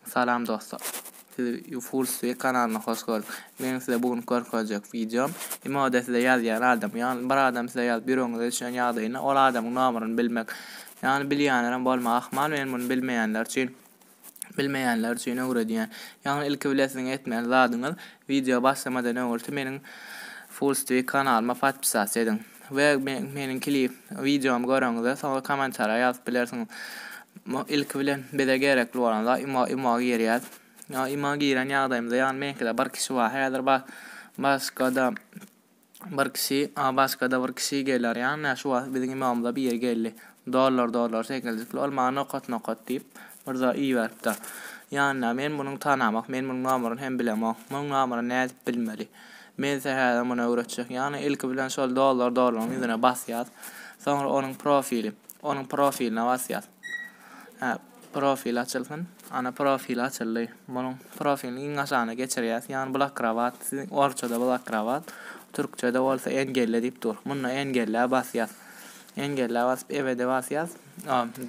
Salam dostlar. Siz Full Sway kanalyna hoş geldik. Men size bugün görkezjek videom Imoda size ýazýan adam. Ýagny bir adam size ýazyp ýüregiňize düşen ýagdaýynda ol adamyň nomeryny bilmek. Ýagny bilýänlerem bolmagy ahmal, men muny bilmeýänler üçin Bilmeýänler üçin öwredýän. Ýagny ilki bilesiň etmeli zadyňyz wideo başlamadan öňürti meniň Fullstreak kanalyma podpisasa ediň we meniň klip wideomy göreňizde soňra kommentariýa ýazyp bilersiňiz. Ilki bilen bize gerekli bolan zat imo imo girýäs. Imo giren ýagdaýymyzda ýagny meňkide bir kişi bar häzir başga-da Bir kişi, Abaskada bir kişi geler ýa ne şu wagt biziň ymamyza biri geldi. Dollar dollar sekiljikli ol maňa nokat nokat diýip bir zat iberipdir. Ýanyna men munyň tanamak men munyň nomeryny hem bilemok. Munyň nomeryny nädip bilmeli. Mense häzir muny öwretjek. Ýagny ilki bilen şol dollar dollaryň ýüzüne basýas. Soňra onuň profili. Onuň profiline basýas. Hä. Profil açylsyn. Ana profil açyldy. Munuň profilini iň aşagyna geçirýäs. Ýagny blakrabat siziň orçada blakrabat, türkçede bolsa engelle diýip dur. Munda engelle basýas. Engelle basyp ebede basýas.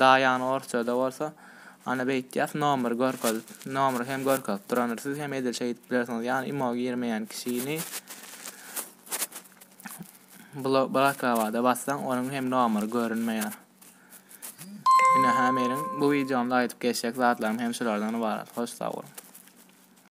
Da ýagny orçada bolsa ana beýtýäs nomry görkezip. Nomry hem görkezip durandyr. Siz hem edil şeýdip bilersiňiz. Ýagny imo girmeýän kişini blakrabada bassaň onuň hem nomry görünmeýär. Ine hä meniň bu wideomda aýdyp geçjek zatlarym hem şulardan ybarat. Hoş sag boluň.